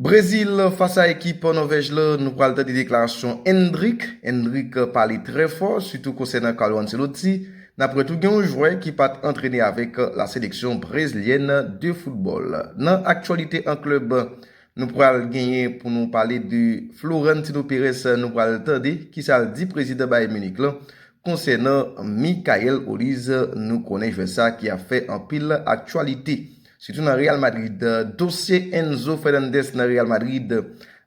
Brezil fas a ekip Nòvèj la, nou pral tande deklarasyon Endrick, Endrick pale trè fò sitou konsènan Carlo Ancelotti, n aprann tou gen yon jwè ki pat antrene avèk la seleksyon brezlyèn de foutbòl. Nan aktyalite an klèb, nou pral genyen pou nou pale de Florentino Perez, nou pral tande kisa l di prezidan Bayern Munich lan konsènan Michael Olise, nou konnen jwè sa ki ap fè anpil aktyalite. Sitou nan Real Madrid, dosye Enzo Fernandez nan Real Madrid,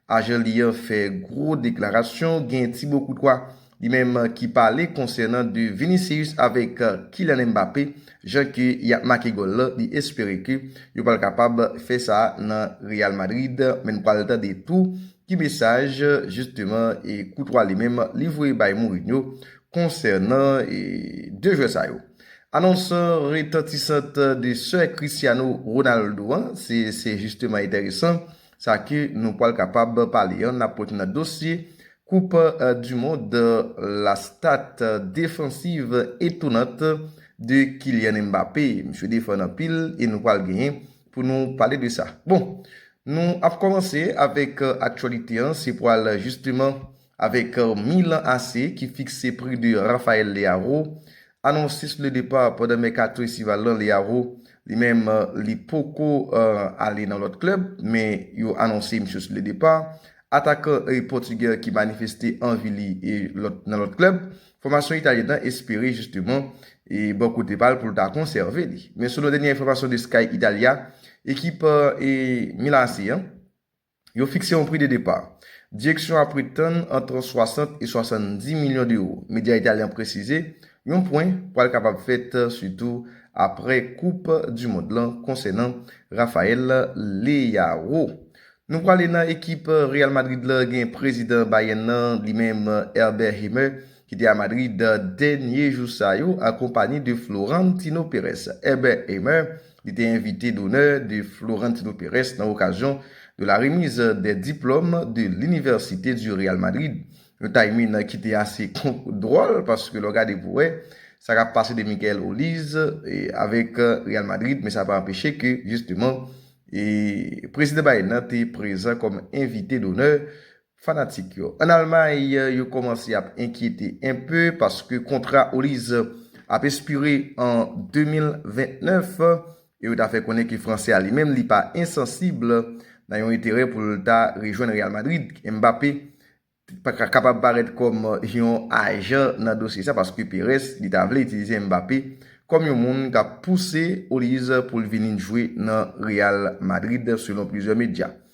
ajan li an fè gwo deklarasyon, gen Thibaut Courtois li menm ki pale konsènan de Vinicius avèk Kylian Mbappé, jan ke yap make gòl lan, li espere ke yo pral kapab fè sa nan Real Madrid, men nou pral tande tou ki mesaj jisteman Courtois li menm li voye bay Mourinho konsènan de jwè sa yo. Anons retantisant de sè Cristiano Ronaldo an, se se jisteman enteresan sa ke nou pwal kapab pale an, nap pote nan dosye koup du mond la stat defansiv etonant de Kylian Mbappé, misye defann anpil e nou pwal genyen pou nou pale de sa. Bon, nou ap kòmanse avèk aktyolite an, se pwal jisteman Avèk Milan AC ki fikse pri de Raphaël Leao, anonsis le départ pandan mèkato estival lan Leao, li menm li poko ale nan lòt klèb men yo anonse misye sou le départ. Atakan Pòtugè ki manifeste anvi li nan lòt klèb, fòmasyon Italyèn nan espere jisteman bò kote pa l pou l ta konsève li. Men selon dènye enfòmasyon de Sky Italia, ekip Milan AC an, Yo fikse yon pri de depa. Direksyon a pretann ant 60 e 70 milyon dewo. Medya italyen an presize, yon pwen pral kapab fèt sitou apre koup du mond lan konsènan Raphael Leao. Nou prale nan ekip Real Madrid la gen prezidan Bayern nan li menm Herbert Himmer ki te a Madrid dènye jou sa yo an konpani de Florentino Pérez. Heber Hamer, li te envite donè de Florentino Pérez nan okazyon de la remiz dè diplòm de l'université du Real Madrid. Yon timing ki te ase dwòl paske lè w gade pou wè sa kap pase de Michael Oliz avèk Real Madrid men sa pa anpeche ke jisteman Prezidan Biden te prezan kòm envite donè Fanatik yo an Almay yo kòmanse ap enkyete enpe paske kontra Oliz ap espire an 2029 e yo ta fè konnen ke fransè a li menm li pa ensansib nan yon enterè pou l ta rejwenn Real Madrid. Mbappé kapab parèt kòm yon ajan nan dosye sa paske Perez li ta vle itilize Mbappé kòm yon moun k ap pouse Oliz pou l vini jwe nan Real Madrid selon plizyè medya.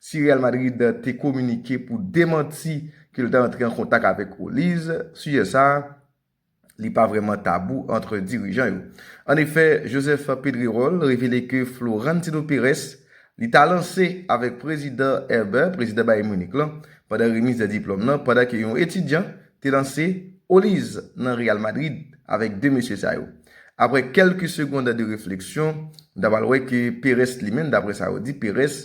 Si Real Madrid te kominike pou demanti ke l ta antre an kontak avèk Oliz, sijè sa a, li pa vrèman tabou antre dirijan yo. An efè, Joseph Pedrerol revele ke Florentino Perez li ta lanse avèk Prezidan Eber, prezidan Bayern Munich lan, pandan remiz de diplòm lan, pandan ke yon etidyan te lanse Oliz nan Real Madrid avèk 2 mesye sa yo. Aprè kèlke segond de refleksyon, nou ta pral wè ke Perez li menm, daprè sa yo di, Perez,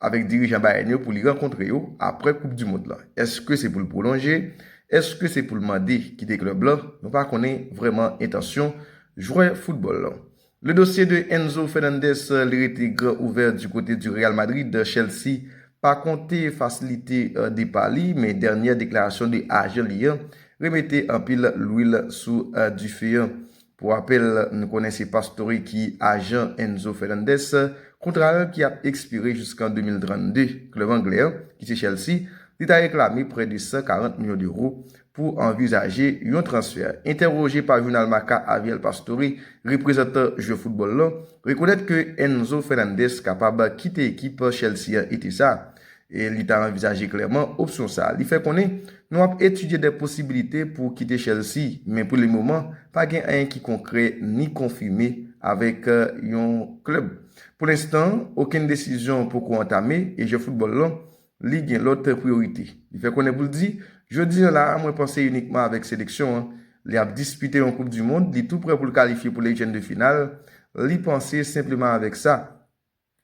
avèk dirijan Bayern yo pou li rankontre yo aprè koup du mond lan. Eske se pou l pwolonje? Eske se pou l mande kite klèb lan? Nou pa konnen vrèman entansyon jwè foutbòl lan. Le dossier de Enzo Fernandez li rete gran ouvè du kote du Real Madrid, Chelsea pa konte fasilite depa li men dènyè deklarasyon de ajan li an remete anpil lwil sou dife an. Pou rapèl, n konnen se Pastore ki ajan Enzo Fernandez, kontra l ki ap ekspire jiskan 2032. Klèb anglè an, ki se Chelsea, te ta reklame prè de 140 milyon dewo pou anvizaje yon transfè. Entèwoje pa jounal Marca Aviel Pastore, reprezantan jwè foutbòl lan, rekonèt ke Enzo Fernandez kapab kite ekip Chelsea an ete sa a. e li ta anvizaje klèman opsyon sa a. Li fè konnen, Nou ap etidye de posibilite pou kite Chelsea, men pou le moman, pa gen anyen ki konkrè ni konfime avèk yon klèb. Pou lenstan, okenn desizyon poko antame e jwè foutbòl lan, li gen lòt priyorite. Li fè konnen pou l di, Jodi an la a, mwen panse inikman avèk seleksyon an. Li ap dispite yon koup du mond, li tou prè pou l kalifye pou lejèn de final, li panse senpleman avèk sa.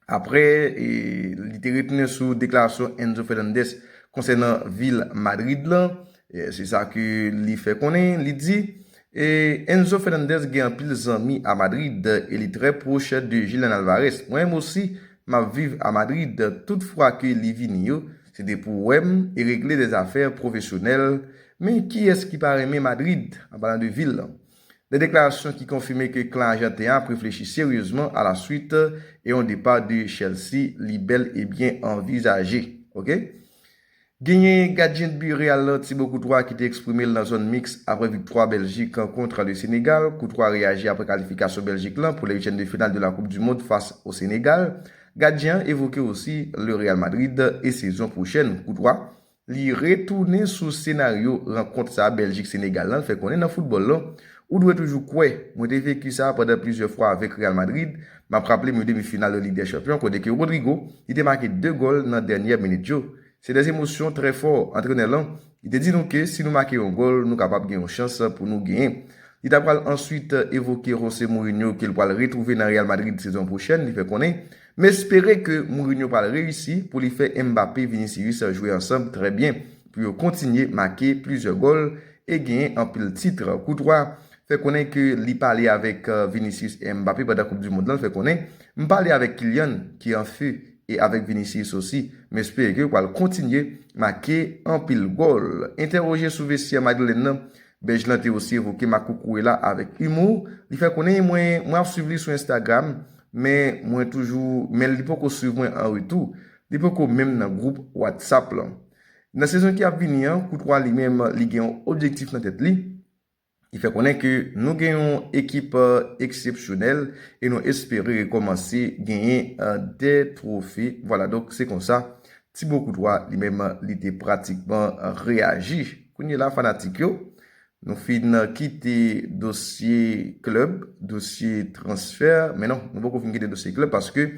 Apre li te retounen sou deklarasyon Enzo Fernandez konsènan vil Madrid lan, se sa ke li fè konnen, li di, Enzo Fernandez gen anpil zanmi a Madrid e li trè pwoch de Julian Alvarez. Mwen menm osi, m ap viv a Madrid. Tout fwa ke li vini yo, se te pou wè m e regle dè zafè pwofesyonèl. Men, kiyès ki pa renmen Madrid, an palan de vil lan? 2 deklarasyon ki konfime ke klan Ajanten an ap reflechi seryezman a la swit e yon depa de Chelsea li bèl e byen anvizaje. Ok. Genyen gadyen dbi Real lan Thibaut Courtois ki te eksprime l nan zòn miks apre viktwa Bèljik an kontra le Senegal. Courtois reyaji apre kalifikasyon Bèljik lan pou le uityèm de final de la koup du mond fas o Senegal. Gadyen an evoke osi le Real Madrid e sezon pwochèn. Courtois. Li retounen sou senaryo rankont sa Bèljik Senegal lan, l fè konnen nan foutbòl lan, ou dwe toujou kwè. Mwen te veki sa pandan plizyè fwa avèk Real Madrid, m ap raple m yon demi final nan Lig dè Chanpyon kote ke Rodrygo li te make 2 gòl nan dènyè minit yo. Se dè emosyon trè fò. Antrenè lan li te di nou ke si nou make yon gòl nou kapab gen yon chans pou nou genyen. Li ta pral answit evoke Jose Mourinho ke l pral retwouve nan Real Madrid sezon pwochèn, li fè konnen M espere ke Mourinho pral reyisi pou li fè Mbappé, Vinicius jwe ansanb trè byen, pou yo kontinye make plizyè gòl e genyen anpil titr. Courtois fè konnen ke li pale avèk Vinicius e Mbappé pandan koup du mond lan, l fè konnen, M pale avèk Kylian ki an few e avèk Vinicius osi. M espere ke yo pral kontinye make anpil gòl. Entèroje sou vestyè madrilèn nan, Bèj lan te osi evoke makoukouwe la avèk humour, li fè konnen mwen mwen ap swiv li sou Instagram men mwen toujou men li poko swiv mwen an retou, li poko menm nan gwoup WhatsApp lan. Nan sezon ki ap vini an, Koutwa li menm li gen yon objektif nan tèt li, li fè konnen ke nou gen yon ekip eksepsyonèl e nou espere rekòmanse genyen 2 twofe, vwala donk se konsa Tibo Koutwa li menm li te pratikman reyaji. Kounye la fanatik yo, nou fin kite dosye klèb, dosye transfè, men non, nou poko fin kite dosye klèb paske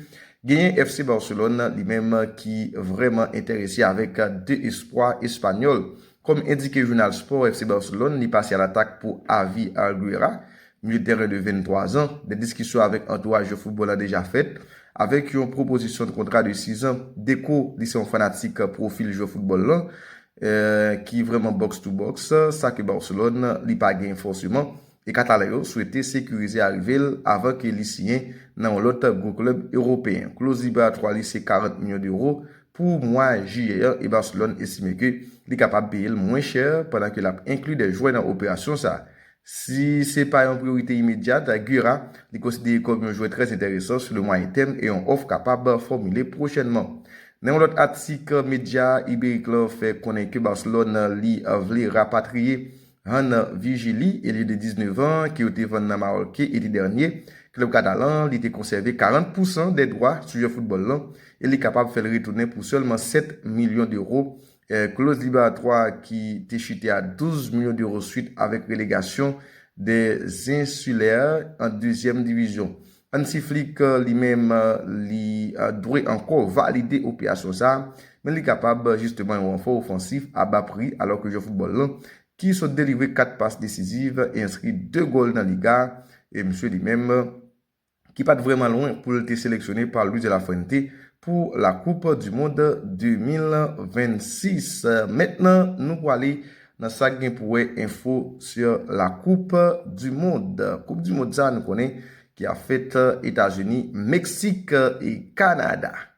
genyen FC Barcelone li menm ki vrèman enterese avèk 2 espwa espanyòl. Kòm endike jounal sport FC Barcelone li pase a l'attaque pou Avi Arguera, Milye tèren de 23 zan, dè diskisyon avèk antouraj yo foutbòl la deja fèt, avèk yon pwopozisyon de kontra de 6 zan. Deco, li se yon fanatik pwofil jwè foutbòl lan, ki vrèman box to box, sa ke Barcelone li pa gen fòseman, e Katalan yo swete sekirize arive l avan ke li siyen nan yon lòt gwo klèb ewopeyen. Kloz liberatwa li se 40 milyon dewo pou mwa jiyè an e Barcelone estime ke li kapab peye l mwen chè pandan ke l ap enkli 2 jwè nan operasyon sa. Si se pa yon priyorite imedyat, Gura li konsidere kòm yon jwè trè enteresan sou le mwayen tèm e yon òf kapab fòmile pwochènman. Nan yon lòt atik, medya Iberik lan fè konnen ke Barcelone li vle rapatriye Hann Virgili, elye de 19 an ke yo te vann nan Maròlke ete dènye. Klèb katalan li te konsève 40 pousan dè dwa sou jwè foutbòl lan e li kapab fè l retounen pou sèlman 7 milyon deuro Kloz liberatwa ki te chute a 12 milyon d'euro swit avèk relegasyon des Insulaires an dezyèm divizyon. Hansi Flick li menm li dwe ankò valide operasyon sa a, men li kapab jisteman yon ranfò ofansif a ba pri alò ke jwè foutbòl lan ki sot delivre 4 pas desiziv e enskri 2 gòl nan Liga e msye li menm ki pat vrèman lwen pou l te seleksyone pa Luis de la Fuente pou la koup du mond 2026. Mentnan nou pwale nan sak gen pou wè enfo sur la koup du mond. Koup du mond sa nou konnen ki ap fèt Etazini, Meksik e Kanada.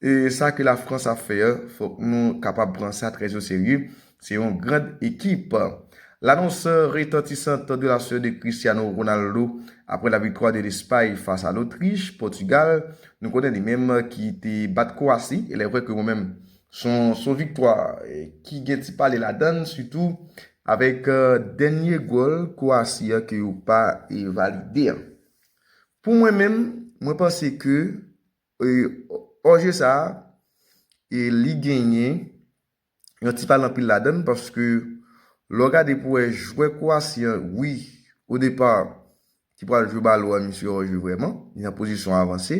E sa ke la France ap fè an, fok nou kapab pran sa trè o serye, se yon grand ekip. L'annonce retentissante de la sort de Cristiano Ronaldo après la victoire de l'Espagne face à l'Autriche, Portugal, nou konnen li menm ki te bat Kwasi, elè vrè ke mwen menm son son viktwa ki gen ti pale ladann sitou avèk dènye gòl Kwasi an ke yo pa valide an. Pou mwen menm, mwen panse ke. Pwojè sa a, li genyen yon ti pale anpil ladan l paske lè w gade pou w wè jwè Kwowasi an, wi, o depa ki pral jwe balon an misye ò jwe vrèman, li nan pozisyon avanse.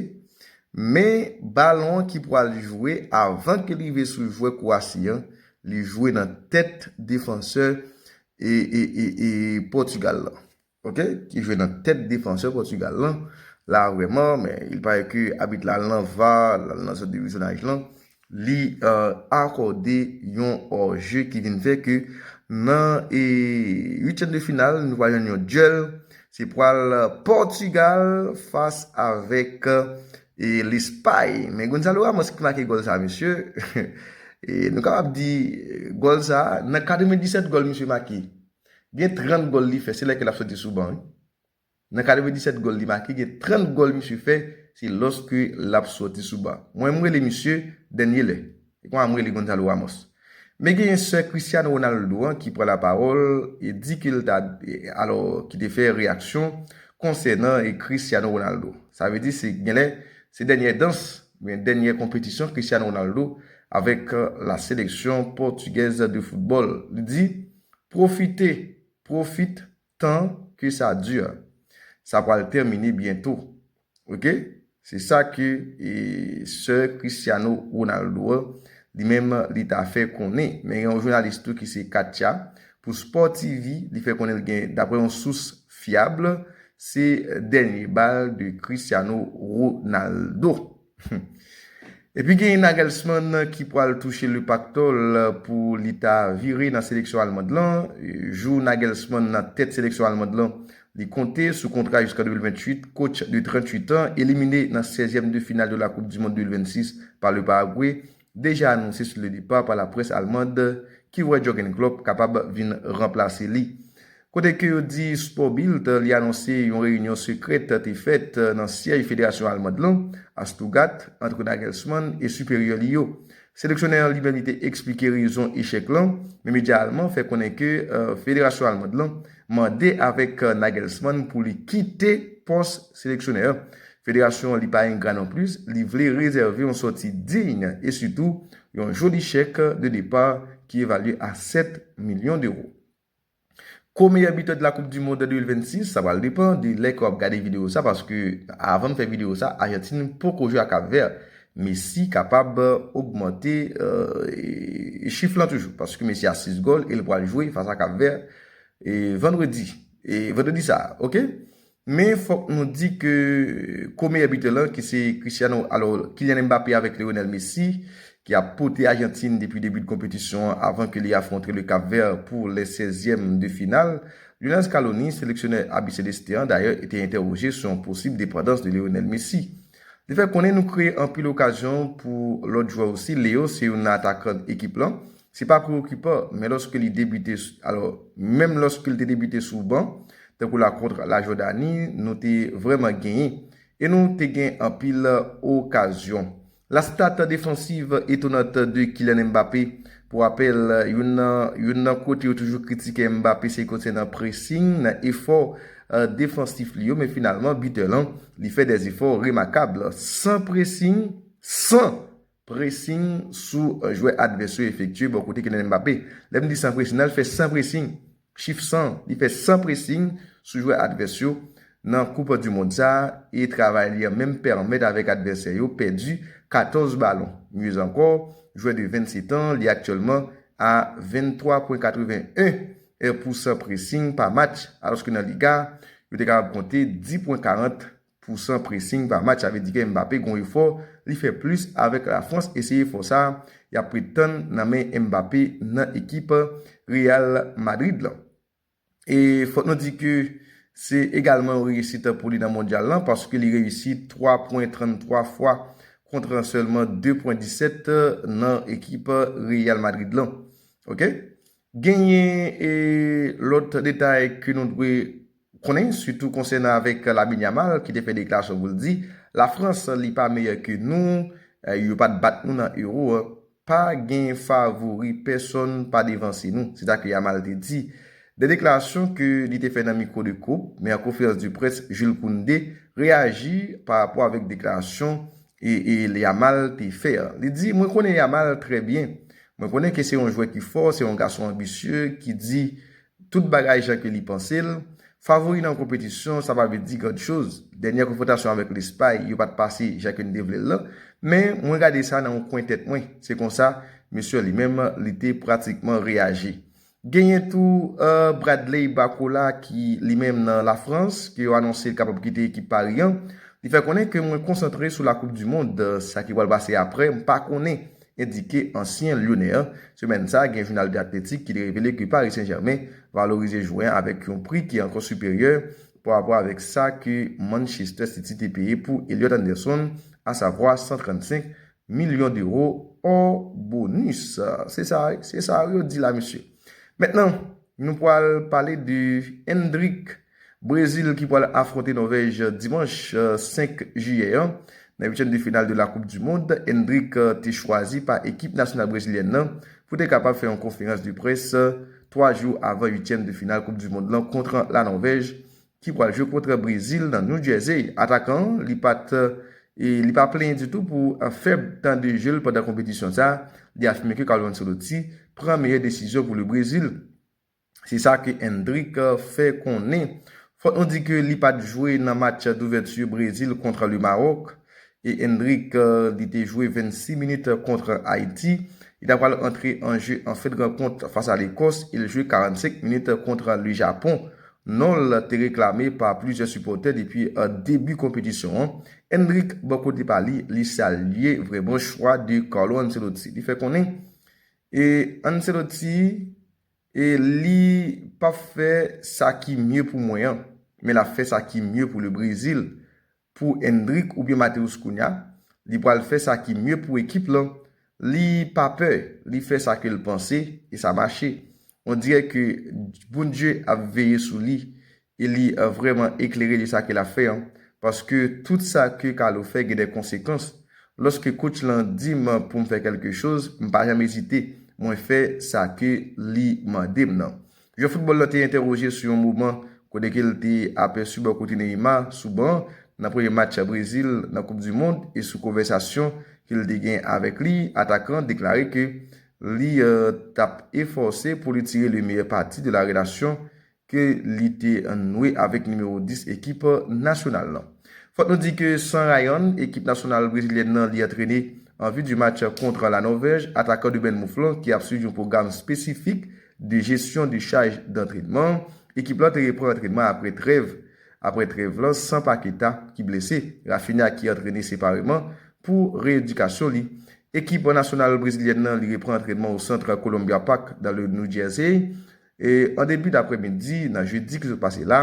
Men balon an ki pral jwe avan ke l rive sou jwè Kwowasi an, li jwe nan tèt defansè Pòtigal lan. Ok ki jwe nan tèt defansè Portugal lan la vrèman men il pare ke abit la al nan var l al nan sant de vizyonaj lan li akòde yon hors jeu ki vin fè ke nan 8 tièm de final nou pral jwenn yon duel se pral Portugal fas avèk Lespay men Gonzalo Ramos ki make gòl sa mesye nou kapab di gòl sa nan 97 gòl misye make Gen 30 gòl li fè se lè ke lap soti sou ban wi. Nan 97 gòl li make gen 30 gòl misye fè se lòske lap soti sou ban. Mwen m rele misye dènye lè. Se konsa m rele Gonzalo Ramos. Men genyen sè Cristiano Ronaldo an ki pran lapawòl e di ke l ta alò ki te fè reyaksyon konsènan Cristiano Ronaldo. Sa vle di se genlè se dènyè dans oubyen dènyè konpetisyon Cristiano Ronaldo avèk la seleksyon pòtigèz de foutbòl. Li di. Profite, profit, tan que ça dure. Sa pral termine biento. Ok? Se sa ke sè Cristiano Ronaldo an, li menm li ta fè konnen. Men gen yon jounalis tou ki se Katia, pou Sport TV, li fè konnen l gen, daprè yon sous fyab, se dènye bal de Cristiano Ronaldo. Humm. Epi genyen Nagelsmann ki pwal touche le paktòl pou li ta vire nan seleksyon Almand lan. Jou Nagelsmann nan tèt seleksyon Almand lan li konte sou kontra jusqu'en 2028, coach de 38 ans éliminé nan 16 ème de finale de la coupe du monde 2026 par le Paraguay deja anonse sou le depa pa la près almand ki wè Jurgen Klopp kapab vin ranplase li. Kote ke yo di Sporbilt li anonse yon reyinyon sekrèt te fèt nan syèj federasyon almand lan a Stuttgart antre Nagelsmann e siperyè li yo. Seleksyonè an li menm li te eksplike rezon echèk lan, men medya alman fè konnen ke federasyon almand lan mande avèk Nagelsmann pou li kite pòs seleksyonè an Federasyon an li pa engra non plis, li vle rezève yon sòti digne e sitou yon joli chèk de depart ki evalye a 7 milyon dewo. Ko meyè bitè de la koup du mond 2026, sa pral depan de lè ke wap gade video sa paske avan m fè video sa Ajantin poko jwe ak Kap Vè. Messi kapab ogmante chif lan toujou paske Messi a 6 gòl e l pral jwe fas a Kap Vè Vandredi, Vandredi sa ok. Men fòk nou di ke ko meyè bitè lan ki se Cristiano alo Kylian Mbappé avèk Lionel Messi ki ap pote Ajantin depi debi de konpetisyon an avan ke li afwontre le Cap Vert pou lè sèzyèm de final. Lionel Scaloni, seleksyonè Abiceleste an dayè te entèwoje sou yon posib depandans de Lionel Messi. Li fè konnen nou kreye anpil okazyon pou lòt jwè osi, Leo se youn nan atakan ekip lan, Se pa preokipan, men lòske li debite, alò, menm lòske l te debite sou ban, tankou la kontra La Jòdani, nou te vrèman genyen. E nou te gen anpil okazyon. La stat defansiv etonant de Kylian Mbappé, pou rapèl, youn nan youn nan kote yo toujou kritike Mbappé se konsènan pressing, nan efò defansif li yo, men finalman bitè lan, li fè dè efò remakab. San pressing, san Pressing sou jwè advès yo efektye bò kote Kylian Mbappé. Lè m di san pressing, nan l fè san pressing, chif san, li fè san pressing sou jwè advès yo nan koup du mond sa a e travay li an menm pèmèt avèk advèsè yo pèdi 14 balon. Mieux encore, jwè de 27 ans li aktyèlman a 23 pwen 81 pou san pressing pa match alòske nan Liga yo te kapab konte 10 pwen 40 Pou san pressing pa match sa vle di ke Mbappé gon efò li fè plus avèk la France e se efò sa yap pretann nan men Mbappé nan ekip Real Madrid lan. E fòk nou di ke se egalman yon reyisit pou li nan mondyal lan paske li reyisi 3 pwen 33 fwa kontra sèlman 2 pwen 17 nan ekip Real Madrid lan ok. Genyen lòt detay ke nou dwe konnen sitou konsènan avèk Lamine Yamal ki te fè deklarasyon pou l di La Frans li pa meyè ke nou, yo pat bat nou nan Euro a, pa gen favori pèsonn pa devanse nou, se sa ke Yamal te di. 2 deklarasyon ke li te fè nan mikwo de Coop, men an konferans de près Jules Koundé reyaji pa rapò avèk deklarasyon Yamal te fè an. Li di mwen konnen Yamal trè byen, Mwen konnen ke se yon jwè ki fò, se yon gason anbisye, ki di tout bagay jan ke li panse l. Favori nan yon konpetisyon, sa pa vle di grand chose. Dènyè konfwontasyon avèk Lespay, yo pa t pase jan ke n te vle l lan. Men, mwen gade sa nan yon kwen tèt mwen. Se konsa, Messi li menm, li te pratikman reyaji. Genyen tou Bradley Barcola ki li menm nan La Frans ke yo anonse li kapab kite ekip Paris an. Li fè konnen ke mwen konsantre sou la koup du mond, sa ki pral pase aprè m pa konnen, endike ansyen Lyonè an. Semèn sa, gen jounal The Athletic ki te revele ke Paris Saint Germain valorize jwè an avèk yon pri ki ankò siperyè parapò avèk sa ke Manchester City te peye pou Elliot Anderson, asavwa 135 Millions d'euros or bonus. Se sa, se sa yo di la mesye. Mentnan, nou pwal pale de Endrick, Brezil ki pwal afwonte Nòvèj dimanch 5 jiyè an nan uityèm de final de la koup du mond. Endrick te chwazi pa ekip nasyonal brezilyèn nan pou te kapab fè yon konferans de près 3 jou avan uityèm de final koup du mond lan kontra la Nòvèj. ki pral jwe kontra Brezil nan New Jersey. Atakan an li pat li pa plenyen ditou pou fèb tan de je l pandan konpetisyon sa, li afime ke Carlo Ancelotti pran meyè desizyon pou le Brezil. Se sa ke Endrick fè konnen. Fòk nou di ke li pat jwe nan match douvèti Brezil kontra le Maroc. E Endrick li te jwe 26 minit kont Ayiti. Li ta pral antre an je an fen rankont fas a Lekòs e l jwe 45 minit kont Le Japon. Non l te reklame pa plizyè sipòtè depi debi konpetisyon an. Endrick bò kote pa li, li salye vrèman chwa de Carlo Ancelotti. Li fè konnen e Ancelotti e li pap fè sa ki mye pou mwen an, men l ap fè sa ki mye pou Le Brezil. pou Endrick oubyen Mateus kounya, li pral fè sa ki mye pou ekip lan, li pa pè, li fè sa ke l panse e sa mache. On dirè ke Bndye ap veye sou li e li vrèman eklere de sa ke l ap fè an, paske tout sa ke Carlo fè gen dè konsekans. Lòske coach lan di m pou m fè kèlke choz, m pa janm ezite, mwen fè sa ke li mande m nan. Jwè foutbòl la te entèwoje sou yon moman kodeke l te apèsi bò kote Neymar sou ban nan premye match Brezil nan koup du mond e sou konvèsasyon ke l te gen avèk li, atakan an deklare ke li t ap efòse pou li tire le meyè pati de la relasyon ke li te nwe avèk nimewo 10 ekip nasyonal lan. Fòk nou di ke san Ryan, ekip nasyonal brezilyèn nan li antrene an vi du match kontra la Nòvèj, atakan de Bènmouf lan ki ap swiv yon pwogram spesifik de jesyon de chaj dantrenman, ekip lan te repran antrenman apre trèv apre trèv lan san Paqueta ki blese, Raphinha ki antrene separeman pou reyedikasyon li. Ekip nasyonal brezilyèn lan li repran antrènman o Centre Columbia Park dans le New Jersey an debi daprè midi nan jedi ki sot pase la.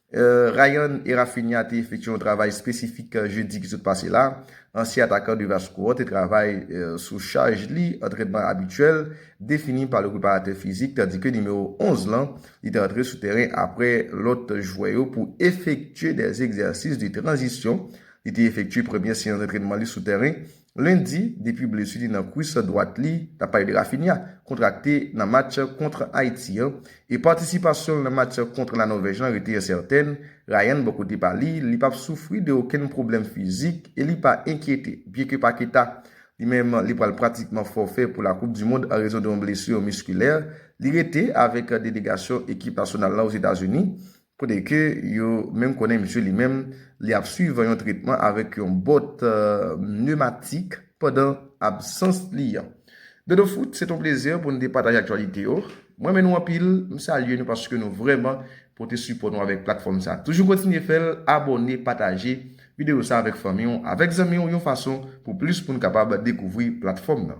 Rayan e Raphinha te efektye yon travay espesifik jedi ki sot pase la. Ansyen atakan de Vasco an te travay sou chaj li, antrènman abityèl, defini pa le preparatè fizik, tandi ke nimewo 11 lan, li te antre sou tèren apre lòt jwè yo pou efektye dè egzèsis de tranzisyon. Li te efektye premye seyans dantrènman li sou tèren Lendi, depi blesu li nan kwis dwat li, nap pale de Raphinha, kontrakte nan match kontr Ayiti an, e patisipasyon l nan match kontr La Nòvèj lan rete ensèten, Ryan bò kote pa li, li pap soufri de okenn pwoblèm fizik e li pa enkyete, byen ke Paqueta, li menm, li pral pratikman fòfè pou la koup du mond an rezon de yon blessure musculaire, li rete avèk delegasyon ekip nasyonal lan Ozetazuni, Kote ke yo menm konnen misye li menm li ap swiv yon tretman avèk yon bòt nematik pandan absans li an. Dodo Foot, se t on plezi pou nou te pataje aktyalite yo. M renmen nou anpil, m salye nou paske nou vrèman pote sipò nou avèk platfòm sa. Toujou kontinye fè l, abòne, pataje videyo sa avèk fanmi w, avèk zanmi w yon fason pou plis moun kapab dekouvri platfòm nan.